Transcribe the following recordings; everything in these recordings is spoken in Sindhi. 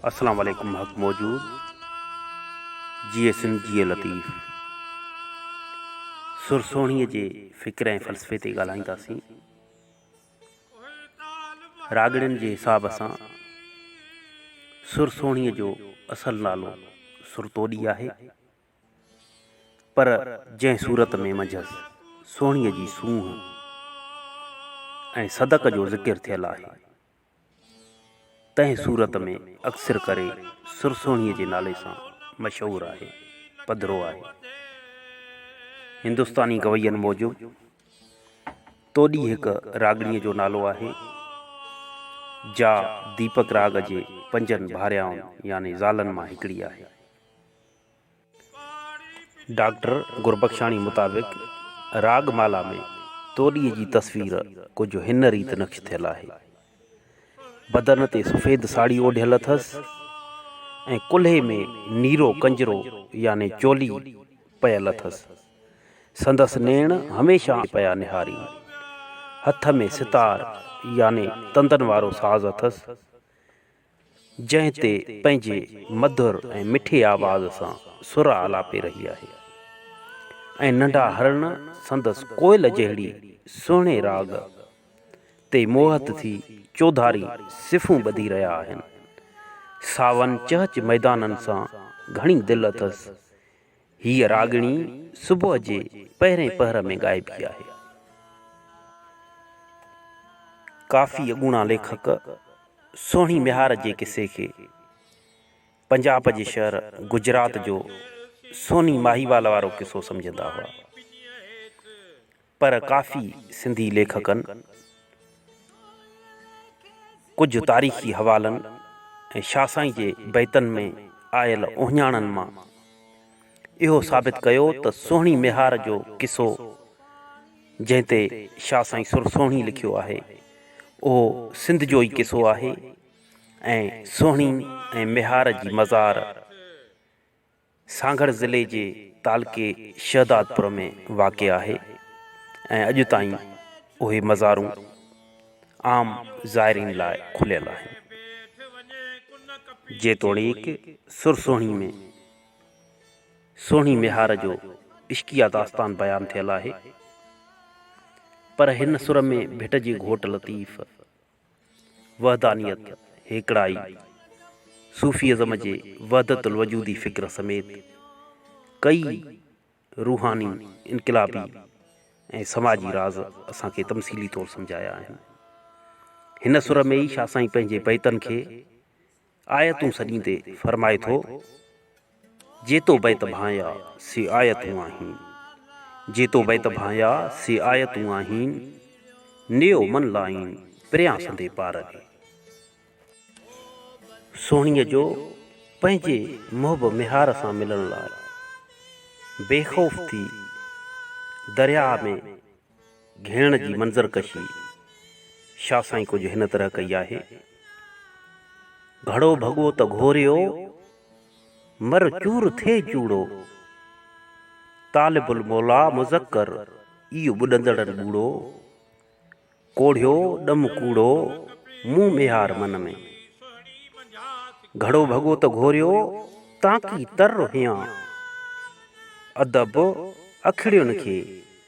اسلام عليڪم حق موجود جيئي سنڌ جيئي لطيف سر سهڻي جي فڪر ۽ فلسفي تي ڳالهائينداسين راڳڙين جي حساب سان سر سهڻي جو اصل نالو سرتوڏي آهي پر جنهن صورت ۾ منجهس سهڻي جي سونهن ۽ صدق جو ذڪر ٿيل آهي تنهن صورت ۾ اڪثر ڪري سرسوڻيء جي نالي سان مشهور آهي. پڌرو آهي. هندستاني گوين موجب توڏي هڪ راڳڻيء جو نالو آهي، جا ديپڪ راڳ جي پنجن ڀاريائن يعني زالن مان هڪڙي آهي. ڊاڪٽر گربخشاڻي مطابق راڳ مالا ۾ توڏيء جي تصوير ڪجهه هن ريت نقش ٿيل آهي. بدن تي سفيد ساڙهي اوڍيل اٿس ۽ ڪلهي ۾ نيرو ڪنجرو يعني چولي پيل اٿس. سندس نيڻ هميشه آنهن پيا نهارين. هٿ ۾ ستار يعني تندن وارو ساز اٿس. جنهن تي پنهنجي مڌر ۽ مٺي آواز سان سر آلاپي رهي آهي ۽ ننڍا هرڻ سندس ڪوئل جهڙي سهڻي راڳ تي موهت ٿي چوڌاري صفون ٻڌي رهيا آهن. ساون چهچ ميدانن سان گهڻي دل اٿس هيء راڳڻي صبح جي پهرئين پهر ۾ ڳائبي آهي. ڪافي اڳوڻا ليکڪ سهڻي ميهار جي قصي کي پنجاب جي شهر گجرات جو سوني ماهيوال وارو قصو سمجهندا هئا. پر ڪافي سنڌي ليکڪن ڪجهه تاريخي حوالن ۽ شاهه سائين جي بيتن ۾ آيل اهڃاڻن مان اهو ثابت ڪيو ته سهڻي ميهار جو قصو جنهن تي شاهه سائين سر سهڻي لکيو آهي اهو سنڌ جو ئي قصو آهي ۽ سهڻي ۽ ميهار جي مزار سانگهڙ ضلعي جي تعلقي شهدادپور ۾ واقع آهي ۽ اڄ تائين اهي مزارون عام زائرين لاء کليل آهن. جيتوڻيڪ سر سهڻي ۾ سهڻي ميهار جو عشقيه داستان بيان ٿيل آهي پر هن سر ۾ ڀٽ جي گهوٽ لطيف، وحدانيت، هيڪڙائي، صوفي ازم جي وحدت الوجودي فڪر سميت ڪيئي روحاني، انقلابي ۽ سماجي راز اسان کي تمثيلي طور سمجهايا آهن. هن سر ۾ ئي شاهه سائين پنهنجي بيتن کي آيتون سڏيندي فرمائي ٿو، جيتو بيت ڀانئيا سي آيتون آهين، جيتو بيت ڀانئيا سي آيتون آهين، نيو من لائين پريان سندي پار ۾. سهڻيء جو پنهنجي محب ميهار سان ملڻ لاء بي خوف ٿي درياهه ۾. گهيڙڻ جي منظر ڪشي شاهه سائين ڪجهه هن طرح ڪئي آهي. گهڙو ڀڳو ته گهوريو، مر چور ٿئي چوڙو. طالب الموليٰ مذڪر، اي ٻڏندڙن ٻوڙو. ڪوڙهيو ڏم ڪوڙو، مون ميهار من ۾. گهڙو ڀڳو ته گهوريو، تانڪي تر هيان. ادب اکڙين کي.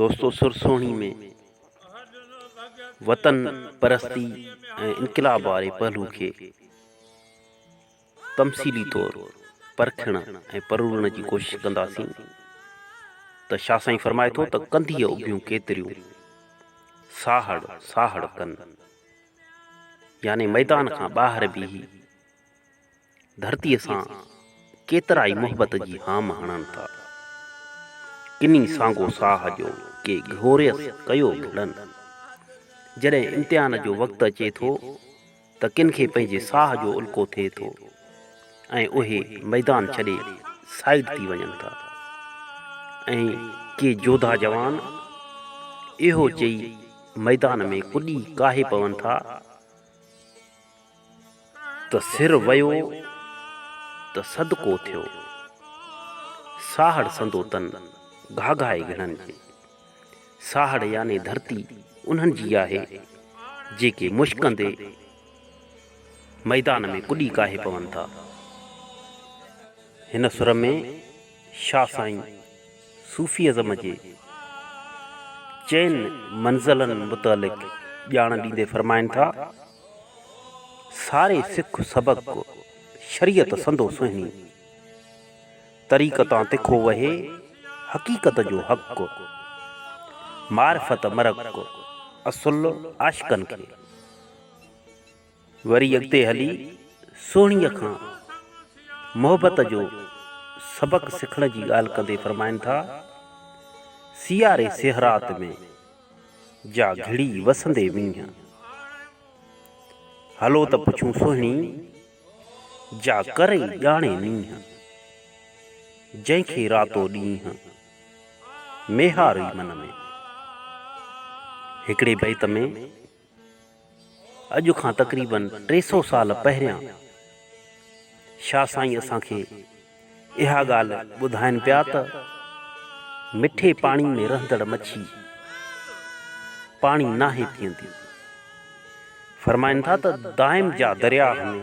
دوستو سر سهڻي ۾ وطن پرستي ۽ انقلاب واري پهلو کي تمثيلي طور پرکڻ ۽ پرورڻ جي ڪوشش ڪنداسين ته شاهه سائين فرمائي ٿو ته ڪنڌيء اڀيون ڪيتريون ساهڙ ساهڙ ڪن يعني ميدان کان ٻاهر بيهي ڌرتيء سان ڪيترائي محبت جي هام هڻن ٿا. ڪني سانگو ساهه جو ڪي گهوريس ڪيو گهڙن. جڏهن امتحان جو وقت اچي ٿو ته ڪن کي پنهنجي ساهه جو الڪو ٿئي ٿو ۽ اهي ميدان ڇڏي سائيڊ ٿي وڃن ٿا ۽ ڪي جوڌا جوان اهو چئي ميدان ۾ ڪڏي ڪاهي پون ٿا ته سر ويو ته صدقو ٿيو. ساهڙ سندو تن گهاگهائي گهڻن جي. ساهڙ يعني ڌرتي انهن جي آهي، جيڪي مشڪندي ميدان ۾ ڪڏي ڪاهي پون ٿا. هن سر ۾ شاهه سائين صوفي ازم جي چئن منزلن متعلق ڄاڻ ڏيندي فرمائن ٿا. ساري سک سبق شريعت سندو سهڻي. طريقتان تکو وهي حقيقت جو حق. معرفت مرق اصل عاشقن کي. وري اڳتي هلي سهڻيء کان محبت جو سبق سکڻ جي ڳالهه ڪندي فرمائن ٿا، سياري سهرات ۾. جا گهڙي وسندي وڃ. هلو ته پڇون سهڻي، جا ڪرئي ڄاڻي نينهن. جنهن کي راتو ڏينهن، ميهارئي من ۾. هڪڙي بيت ۾. اڄ کان تقريباً ٽي سؤ سال پهريان شاهه سائين اسان کي اها ڳالهه ٻڌائين پيا ته مٺي پاڻي ۾ رهندڙ مڇي پاڻي ناهي پيئندي. فرمائن ٿا ته دائم جا درياهه ۾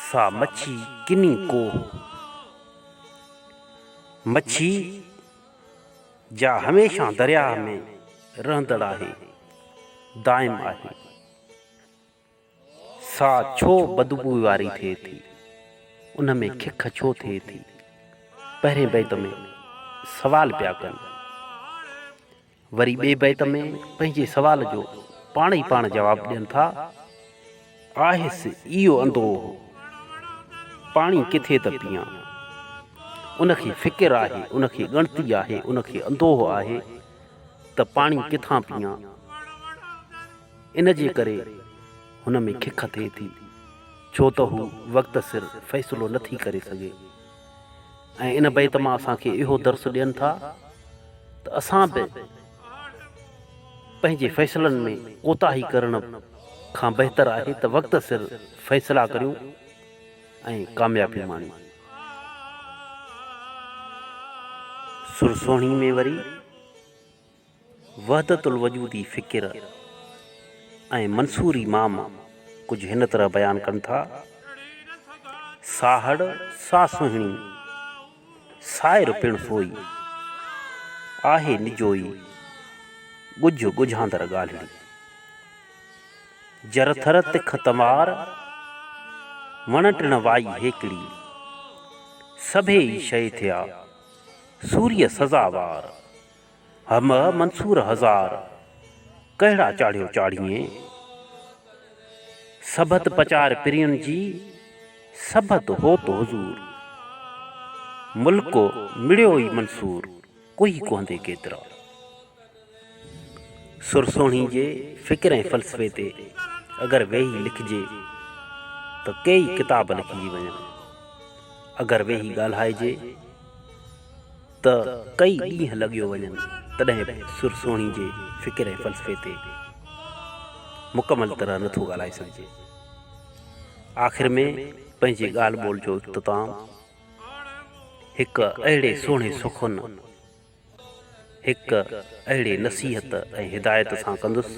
سا مڇي ڪني ڪوهه مڇي. جا هميشه درياهه ۾ رهندڙ آهي، دائم آهي. سا ڇو بدبوء واري ٿئي ٿي؟ ان ۾ کک ڇو ٿئي ٿي؟ پهرين بيت ۾ سوال پيا ڪن. وري ٻئي بيت ۾ پنهنجي سوال جو پاڻ ئي پاڻ جواب ڏين ٿا آهس اهو اندوهه، پاڻي ڪٿي ته پيئان. ان کي فڪر آهي، ان کي ڳڻتي آهي، ان کي اندوهه آهي ته پاڻي ڪٿان پيئان. ان جي ڪري هن ۾ کک ٿئي ٿي، ڇو ته هو وقت سر فيصلو نه ٿي ڪري سگهي. ۽ ان بيت مان اسان کي اهو درس ڏين ٿا ته اسان به پنهنجي فيصلن ۾ ڪوتاهي ڪرڻ کان بهتر آهي ته وقت سر فيصلا ڪريون ۽ ڪاميابي ماڻيون. سر سهڻي ۾ وري وحدت الوجودي فڪر ۽ منصوري مام ڪجهه هن طرح بيان ڪن ٿا، ساهڙ سا سهڻي. سائر پڻ سوئي، آهي نجوئي ڳجهه ڳجهاندڙ ڳالهڙي. جر ٿر تک تنوار، وڻ ٽڻ وائي هيڪڙي. سڀيئي شيء ٿيا، سوريء سزا وار. همه منصور هزار، ڪهڙا چاڙهيو چاڙهيين. سڀت پچار پرين جي، سڀت هوت حضور. ملڪ مڙيو ئي منصور، ڪوهي ڪهندي ڪيترا. سر سهڻي جي فڪر ۽ فلسفي تي اگر ويهي لکجي ته ڪيئي ڪتاب لکجي وڃن. اگر ويهي ڳالهائجي. ته ڪئي ڏينهن لڳيو وڃن تڏهن به سر سهڻي جي فڪر ۽ فلسفي تي مڪمل طرح نه ٿو ڳالهائي سگهجي. آخر ۾ پنهنجي ڳالهه ٻولهه جو اختتام هڪ اهڙي سهڻي سخن، هڪ اهڙي نصيحت ۽ هدايت سان ڪندس،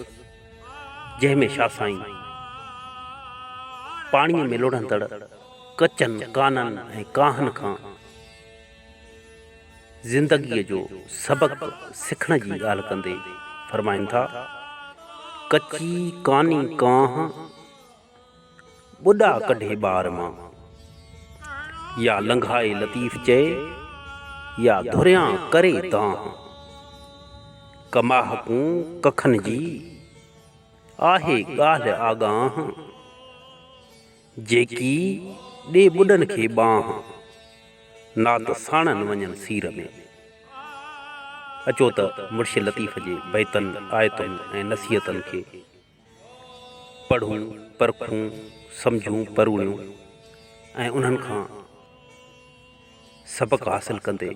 جنهن ۾ شاهه سائين پاڻيء ۾ لڙهندڙ ڪچن ڪانن ۽ ڪاهن کان، زندگيء جو سبق سکڻ جي ڳالهه ڪندي فرمائن ٿا، ڪچي ڪاني ڪانه، ٻڏا ڪڍي ٻار مان. يا لنگهائي لطيف چئي، يا ڌريان ڪري دانهن. ڪماهه ڪون ڪکن جي، آهي ڳالهه آڳانهن. جيڪي ڏي ٻڏن کي ٻانهن، نات ساڻن وڃن سير ۾. اچو ته مرشد لطيف جي بيتن، آيتن ۽ نصيحتن کي پڙهون، پرکون، سمجهون، پروڙيون ۽ انهن کان سبق حاصل ڪندي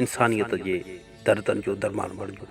انسانيت جي دردن جو درمان بڻجون.